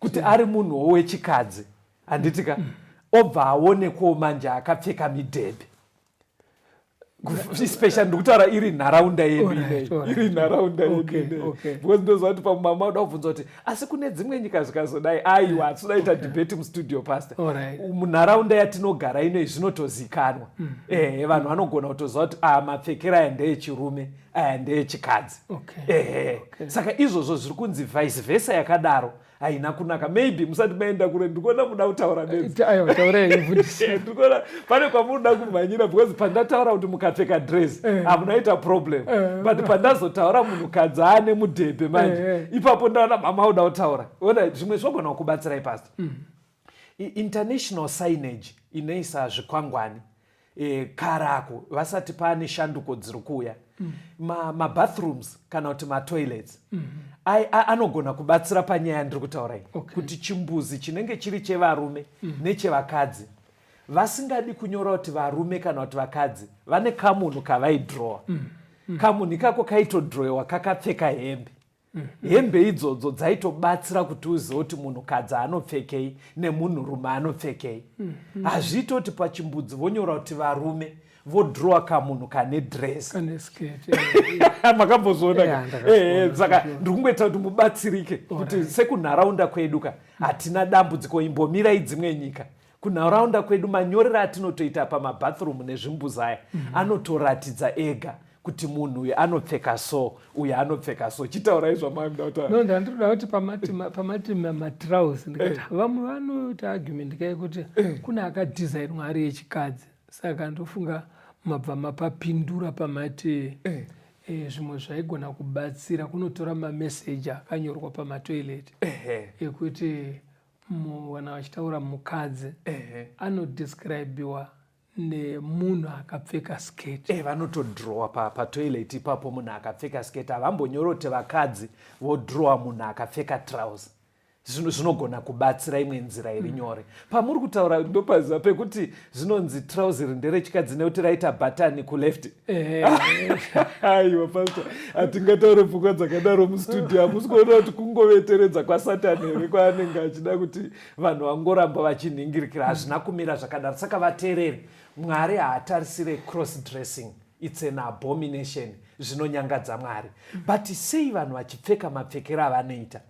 kuti yeah. ari munhuwo wechikadzi handiti ka mm. obva aonekwawo manje akapfeka midhebhe special ndikutaura iri nharaunda yedu iri nharaunda yedu because ndoziva kuti pamwe mama uda kubvunza kuti asi kune dzimwe nyika zvikazodai aiwa hatinoda ita debate mustudio pastor munharaunda yatinogara inoi zvinotozikanwa mm. ehe vanhu vanogona kutoziva kuti aya ah, mapfekero aya ndeechirume aya ndeechikadzi ehe saka izvozvo zviri kunzi vice versa yakadaro haina kunaka maybe musati maenda kure ndikuona muda kutaura nendikuona pane kwamunoda kumhanyira because pandataura kuti mukapfeka dress eh. hamunaita problem eh. but pandazotaura munhukadzi aane mudhebhe manje eh, ipapo ndaona mama uda kutaura ona zvimwe zvogona kukubatsirai pasi mm. International signage inoisa zvikwangwani e, karako vasati pane shanduko dziri kuuya mm. mabathrooms ma kana kuti matoilets mm -hmm. anogona kubatsira panyaya ndiri kutaura iyi okay. kuti chimbuzi chinenge chiri chevarume mm. nechevakadzi vasingadi kunyora kuti varume kana kuti vakadzi vane kamunhu kavaidrowa mm. mm. kamunhu ikako kaitodrowewa kakapfeka hembe Mm -hmm. Hembe idzodzo dzaitobatsira kuti uzive kuti munhukadzi anopfekei nemunhurume anopfekei. Mm -hmm. Hazviite kuti pachimbudzi vonyora kuti varume vodrowa kamunhu kane dress makambozoona saka ndiri kungoita kuti mubatsirike kuti sekunharaunda kwedu ka hatina dambudziko imbomirai dzimwe nyika kunharaunda kwedu manyorero atinotoita pamabathroom nezvimbuzi aya mm -hmm. anotoratidza ega kuti munhu uyu anopfeka so uyu anopfeka so chitaurai zvamaimdautaano ndandinoda kuti pamati matrouse ndikati eh. vamwe vanoita argument kai kuti eh. kune akadesignwa ari echikadzi saka ndofunga mabva mapapindura pamati eh. Eh, zvimwe zvaigona kubatsira kunotora mameseji akanyorwa pamatoilet ekuti eh, Mwana vachitaura mukadzi anodescribiwa nemunhu akapfeka skirt eh, vanotodrowa patoilet pa ipapo munhu akapfeka skirt havambonyorote vakadzi vodrowa munhu akapfeka trouse zvinogona kubatsira imwe nzira iri mm. nyore pamuri kutaura ndopaziva pekuti zvinonzi trouse iri nderechikadzi nekuti raita bhatani kuleft aiwa pasta hatingataure pfungwa dzakadaro mustudio hamusi kuona kuti kungoveteredza kwasatani here kwaanenge achida kuti vanhu vangoramba vachinhingirikira hazvina kumira zvakadaro saka vateereri mwari haatarisire cross dressing its an abomination zvinonyangadza mwari but sei vanhu vachipfeka mapfekero avanoita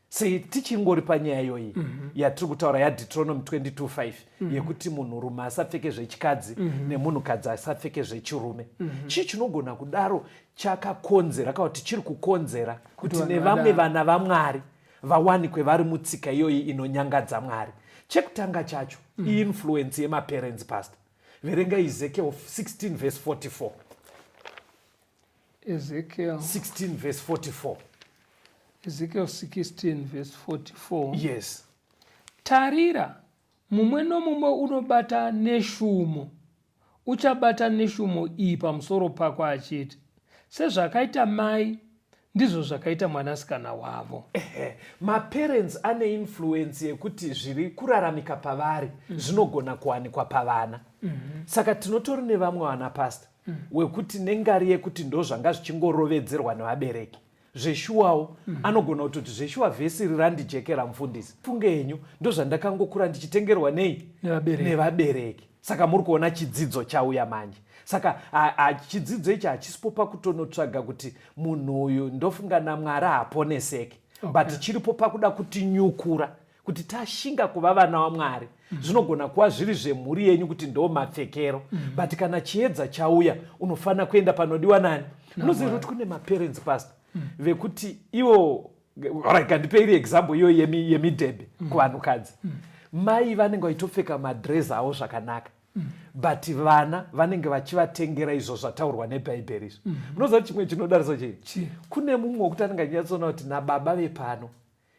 sei tichingori panyaya iyoyi mm -hmm. yatiri kutaura yadeutronomy 225 mm -hmm. yekuti munhurume asapfeke zvechikadzi mm -hmm. nemunhukadzi asapfeke zvechirume mm -hmm. chii chinogona kudaro chakakonzera kana kuti chiri kukonzera kuti nevamwe vana vamwari vawanikwe vari mutsika iyoyi inonyangadza mwari chekutanga chacho mm -hmm. iinfluence yemaparents past verenga izekeo 16 vese 44 Ezekiel 16 verse 44. Ezekiel 16 verse 44. Yes. Tarira, mumwe nomumwe unobata neshumo uchabata neshumo iyi pamusoro pako achiti sezvakaita mai ndizvo zvakaita mwanasikana wavo maparents ane influence yekuti zviri kuraramika pavari mm -hmm. zvinogona kuwanikwa pavana mm -hmm. saka tinotori nevamwe vana pastor mm. wekuti nengari yekuti ndozvanga zvichingorovedzerwa nevabereki zveshuwawo mm. anogona kutoti zveshuwa vhesi iri randijekera mufundisi funge henyu ndozvandakangokura ndichitengerwa nei nevabereki saka muri kuona chidzidzo chauya manje saka chidzidzo ichi hachisipo pakutonotsvaga kuti munhu uyu ndofunga namwari haponeseke okay. but chiripo pakuda kutinyukura kuti tashinga kuva vana wamwari mm. zvinogona kuva zviri zvemhuri yenyu kuti ndo mapfekero mm. but kana chiedza chauya unofanira kuenda panodiwa nani unoziva kuti kune maparents past mm. vekuti ivo kandipei iri example iyo yemidhebhe mm. kuvanhukadzi mm. mai vanenge vachitopfeka madress avo zvakanaka mm. but vana vanenge vachivatengera izvo zvataurwa nebhaibheri izvo munoziva mm. kuti chimwe chinodarisa chii kune mumwe wekuti anenge achinyatsona kuti nababa vepano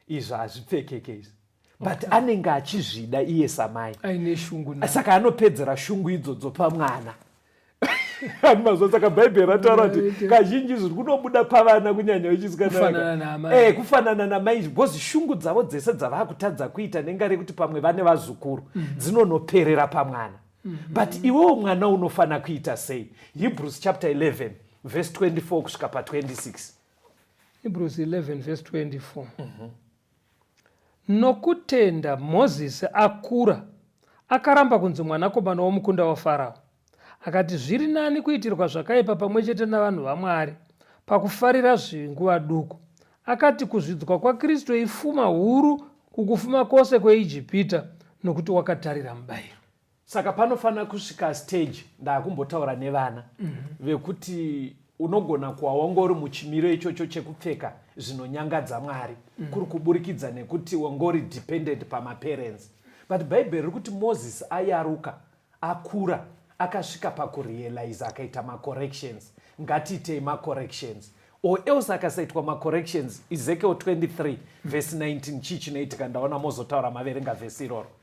izvo hazvipfekeke izvi but okay. anenge achizvida iye samai aine shungu saka anopedzera shungu idzodzo pamwana ani mazuva saka bhaibheri rataura kuti kazhinji zviri kunobuda pavana kunyanya vechisikanaa eh, kufanana namai izvi bcause shungu dzavo dzese dzavaa kutadza kuita nenga rekuti pamwe vane vazukuru mhm. dzinonoperera pamwana mhm. but iwewo mwana unofanira kuita sei hebrews chapter 11 vhesi 24 kusvika pa 26 Hebrews 11 verse 24 mm -hmm. nokutenda mozisi akura akaramba kunzi mwanakomana womukunda wafarao akati zviri nani kuitirwa zvakaipa pamwe chete navanhu vamwari pakufarira zvinguva duku akati kuzvidzwa kwakristu ifuma huru kukufuma kwose kweijipita nokuti wakatarira mubayiro saka panofanira kusvika stage ndaakumbotaura nevana mm -hmm. vekuti unogona kuwa wanga uri muchimiro ichocho chekupfeka zvinonyangadza mwari mm. kuri kuburikidza nekuti wanga uri dependent pamaparents but bhaibheri riri kuti moses ayaruka akura akasvika pakurealize akaita macorrections ngatiitei macorrections or else akasaitwa macorrections ezekiel 23 vhesi 19 chii chinoitika ndaona mozotaura maverenga vhesi iroro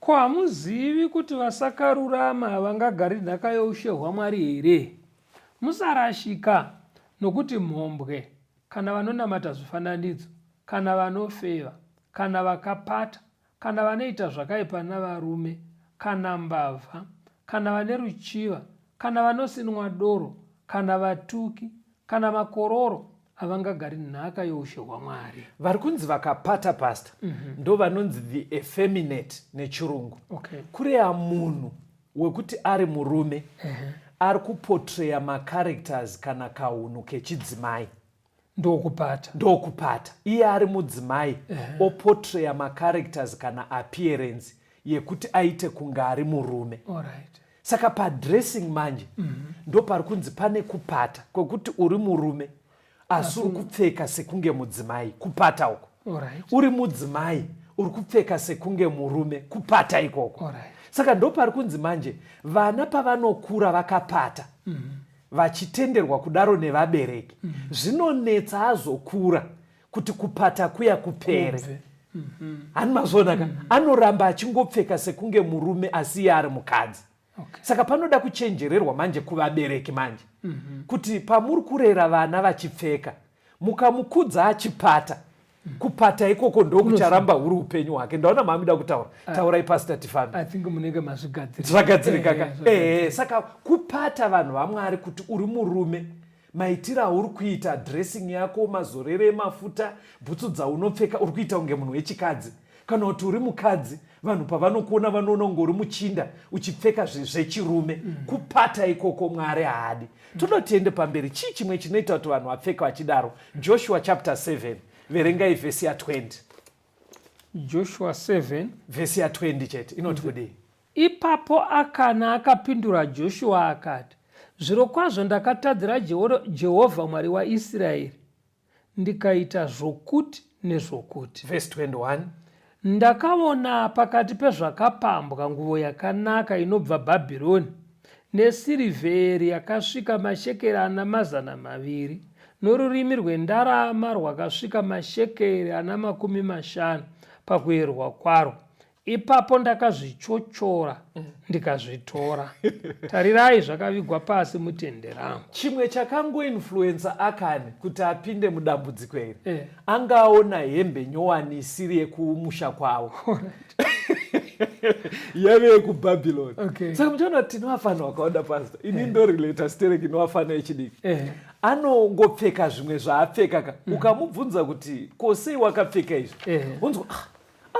Ko hamuzivi kuti vasakarurama havangagari nhaka youshe hwaMwari here? Musarashika nokuti mhombwe, kana vanonamata zvifananidzo, kana vanofeva, kana vakapata, kana vanoita zvakaipa navarume, kana mbavha, kana vane ruchiva, kana vanosinwa doro, kana vatuki, kana makororo havangagari nhaka youshe hwamwari vari kunzi vakapata pasta mm -hmm. ndo vanonzi the effeminate nechirungu okay. kureya munhu wekuti ari murume uh -huh. ari kupotreya macharacters kana kaunhu kechidzimai ndokupata ndokupata iye ari mudzimai uh -huh. opotreya macharacters kana appearance yekuti aite kunge ari murume All right. saka padressing manje mm -hmm. ndo pari kunzi pane kupata kwekuti uri murume asi uri kupfeka sekunge mudzimai kupata uko right. uri mudzimai uri kupfeka sekunge murume kupata ikoko right. saka ndo pari kunzi manje vana pavanokura vakapata mm -hmm. vachitenderwa kudaro nevabereki mm -hmm. zvinonetsa azokura kuti kupata kuya kupere Kubve. hani mazviona ka anoramba achingopfeka sekunge murume asi iye ari mukadzi Okay. saka panoda kuchenjererwa manje kuvabereki manje kuti pamuri kurera vana vachipfeka mukamukudza achipata kupata ikoko ndokucharamba huri upenyu hwake ndaona maamida kutaura taurai pasita tifambe i think munenge mazvigadzirira zvagadzirika ka Eh, zvagadzirika. ehe saka kupata vanhu vamwari kuti uri murume Maitiro auri kuita dressing yako, mazorere emafuta, bhutsu dzaunopfeka uri kuita kunge munhu wechikadzi. Kana kuti uri mukadzi, vanhu pavanokuona vanoona kunge uri muchinda uchipfeka zvechirume. Mm. Kupata ikoko Mwari haadi. Mm. Toda kuti tiende pamberi. Chii chimwe chinoita kuti vanhu vapfeke vachidaro? Joshua chapter 7 verengai vhesi ya 20. Joshua 7 vhesi ya 20 chete inoti kudii? Ipapo Akana akapindura Joshua akati, Zvirokwazvo ndakatadzira Jehovha Mwari waIsraeri ndikaita zvokuti nezvokuti. Verse 21. Ndakaona pakati pezvakapambwa nguvo yakanaka inobva Bhabhironi nesirivheri yakasvika mashekeri ana mazana maviri norurimi rwendarama rwakasvika mashekeri ana makumi mashanu pakuerwa kwaro ipapo ndakazvichochora mm. ndikazvitora tarirai zvakavigwa pasi mutende rangu chimwe chakangoinfluensa akani kuti apinde mudambudziko iri eh. anga aona hembe nyowani isiri yekumusha kwavo yave yekubhabhiloni okay. saka muchaona kuti tinowafana wakaoda pasta ini eh. ndorelata sterek inowafana yechidiki eh. anongopfeka zvimwe zvaapfeka ka mm. ukamubvunza kuti kosei wakapfeka izvi eh. unzwa ah,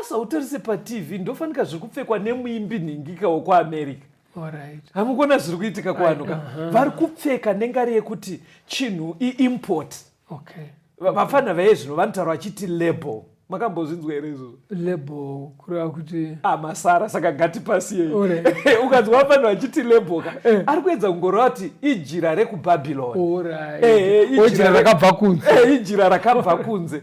asi hautarise patv ndofanika zviri kupfekwa nemuimbi nhingika wekuamerica hamukuona zviri kuitika kuvanhu ka uh-huh. vari kupfeka nengari yekuti chinhu iimport vapfanha vaye zvino vanotaura vachiti label makambozvinzwa here izvozvo label kureva kuti ah, masara saka ngatipasiyei ukanzwa vafanha vachiti label ka eh. ari kuedza kungoreva kuti ijira rekubhabhiloni eh, eh, ijira rakabva kunze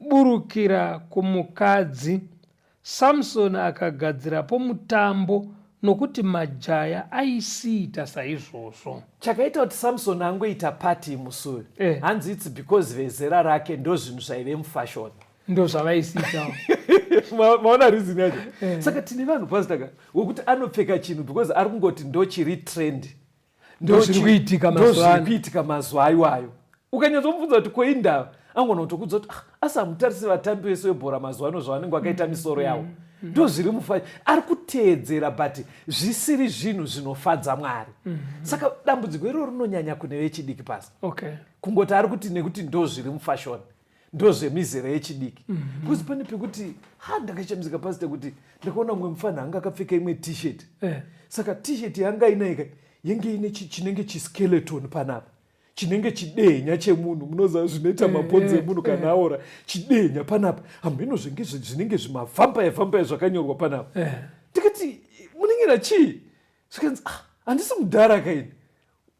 Burukira kumukadzi. Samson akagadzirapo mutambo nokuti majaya aisiita saizvozvo. Chakaita kuti Samson angoita party musi uyu eh. hanzi it's because vezera rake ndozvinhu zvaive mufashoni ndo zvavaisiita maona reason yacho eh. saka tine vanhu pastaka wekuti anopfeka chinhu because ari kungoti ndochiri trend ndozviri kuitika mazuvano kuitika mazuva aiwayo ukanyatsomubvunza kuti kwei ndava angona kutokudza kuti ah, asi hamutarisi vatambi vese vebhora mazuva ano zvavanenge vakaita mm. misoro yavo mm. mm. ndo zviri mufa ari kuteedzera but zvisiri zvinhu zvinofadza mwari mm. saka dambudziko iroro rinonyanya kune vechidiki pasi okay. kungoti ari kuti nekuti ndo zviri mufashoni ndozvemizera yechidiki mm -hmm. because pane pekuti ha ndakashamisika pasita kuti ndakaona mumwe mufana anga akapfeka imwe tshirt eh. saka tshirt yanga inaika yenge ine chinenge chiskeleton panapa chinenge chidenya chemunhu munoziva zvinoita eh, mabhonzi eh, emunhu kana eh. aora chidenya panapa hamheno zvenge zvinenge zvimavhampaya vhampaya zvakanyorwa panapa ndikati munenge na chii zvikanzi ah, handisi mudhara kaini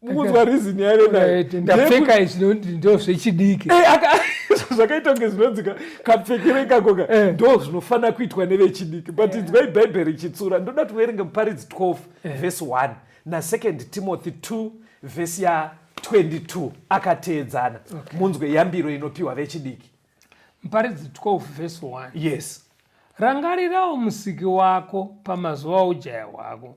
mukunzwa reason yaive nayo ndapfeka izvi ndo zvechidiki eh, zvakaita kunge zvinonzika kapfekere ikakoka eh. ndo zvinofanira kuitwa nevechidiki but eh. inzwai bhaibheri ichitsura ndoda tiverenge muparidzi 12 vhesi 1 nasecond timothy 2 vhesi ya 22 akateedzana munzwe yambiro inopiwa vechidiki muparidzi 12 vhesi 1 yes rangarirawo musiki wako pamazuva aujaya hwako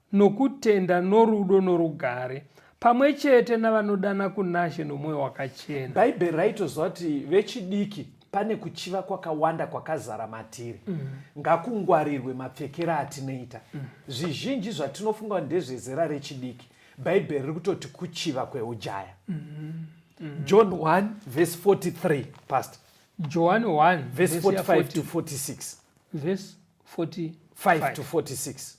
nokutenda norudo norugare pamwe chete navanodana kunashe nomwoyo wakachena bhaibheri raitozva kuti vechidiki pane kuchiva kwakawanda kwakazara matiri mm. ngakungwarirwe mapfekero atinoita mm. zvizhinji zvatinofunga kuti ndezvezera rechidiki bhaibheri riri kutoti kuchiva kweujaya mm. Mm. john 1 vhesi 43 past johani 1 vhesi 45 to 46 vhesi 45 to 46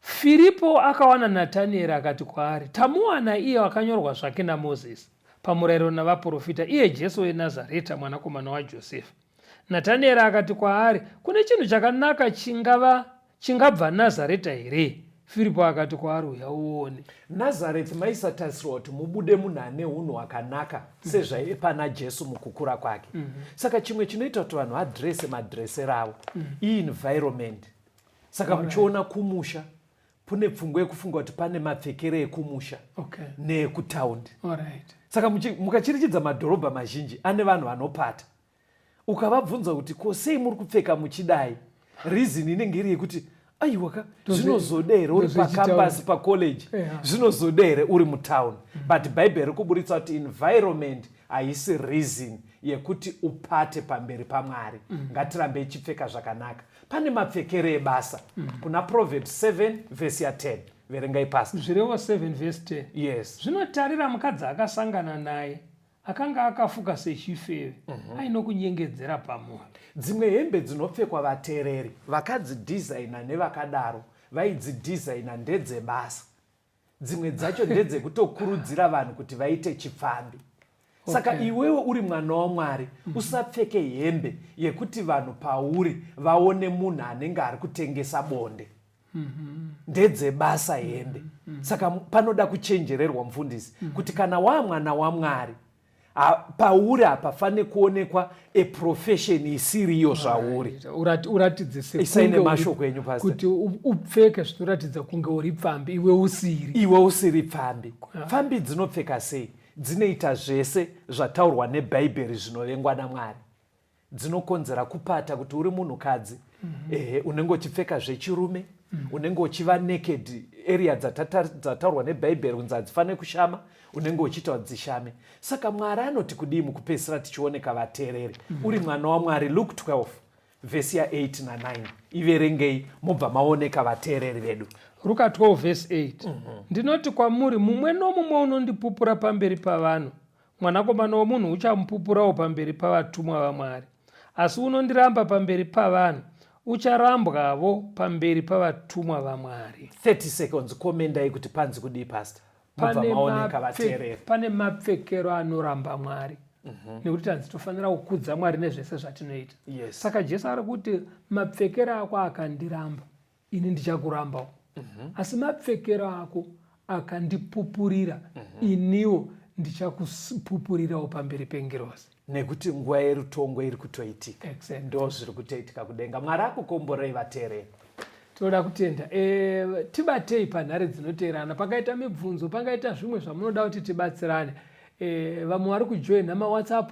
Firipo akawana Natanieri akati kwaari, Tamuwana iye wakanyorwa zvake naMozisi, pamurayiro navaprofita, iye Jesu weNazareta, mwanakomana waJosefa. Natanieri akati kwaari, Kune chinhu chakanaka chingava chingabva Nazareta here? Firipo akati kwaari, Uya uone. Nazareti maisatarisirwa kuti mubude munhu ane unhu hwakanaka mm. sezvaive pana Jesu mukukura kwake. Mm -hmm. Saka chimwe chinoita kuti vanhu vadrese madresero avo mm -hmm. ienvironment. Saka muchiona kumusha kune pfungwa yekufunga kuti pane mapfekere ekumusha okay. neekutaundi right. Saka mukachirichidza madhorobha mazhinji ane vanhu vanopata ukavabvunza kuti ko sei muri kupfeka muchidai reason inenge iri yekuti aiwa ka zvinozoda here uri pacampas pacollege zvinozoda here uri mutown mm-hmm. but bhaibheri rikuburitsa kuti environment haisi reason yekuti upate pamberi pamwari mm-hmm. ngatirambei chipfeka zvakanaka pane mapfekere ebasa mm-hmm. kuna proverbs 7 vhesi ya 10 verengai pasi zvirevo 7 vhesi 10 yes zvinotarira mukadzi akasangana naye akanga akafuka sechifeve mm -hmm. aino kunyengedzera pamunhu dzimwe hembe dzinopfekwa vatereri vakadzidhizaina nevakadaro vaidzidhizaina ndedzebasa dzimwe dzacho ndedzekutokurudzira vanhu kuti vaite chipfambi saka okay. iwewe uri mwana wamwari mm -hmm. usapfeke hembe yekuti vanhu pauri vaone munhu anenge ari kutengesa bonde ndedzebasa hembe saka panoda kuchenjererwa mufundisi kuti kana wamwana wamwari pauri apa fane kuonekwa a profession isiriyo zvauri uratidze sesaine mashoko enyu pasi kuti upfeke zvinoratidza kunge uri pfambi iwe usiri iwe usiri pfambi pfambi dzinopfeka sei dzinoita zvese zvataurwa nebhaibheri zvinovengwa namwari dzinokonzera kupata kuti uri munhukadzi mm -hmm. ehe unenge uchipfeka zvechirume mm -hmm. unenge uchiva naked area dzataurwa nebhaibheri kunzi hadzifanire kushama unenge uchiita dzishame saka mwari anoti kudii mukupedzisira tichioneka vateereri mm -hmm. uri mwana wamwari luke 12 vhesi ya 8 na 9 iverengei mobva maoneka vateereri vedu ruka 12 vhesi 8 mm -hmm. ndinoti kwamuri mumwe nomumwe unondipupura pamberi pavanhu Mwanakomana womunhu uchamupupurawo pamberi pavatumwa vaMwari. Asi unondiramba pamberi pavanhu ucharambwavo pamberi pavatumwa vaMwari. 30 seconds komendai kuti panzi kudii pastor pane mapfekero anoramba mwari mm -hmm. nekuti tanzi tofanira kukudza mwari nezvese zvatinoita yes. saka jesu ari kuti mapfekero ako akandiramba ini ndichakurambawo mm -hmm. asi mapfekero ako akandipupurira mm -hmm. iniwo ndichakupupurirawo pamberi pengirozi nekuti nguva yerutongo iri kutoitika exactly. ndo zviri kutoitika kudenga mwari akukomborei vateereri tinoda kutenda e, tibatei panhare dzinoteerana pakaita mibvunzo pangaita zvimwe zvamunoda kuti tibatsirane e, vamwe vari kujoina mawhatsapp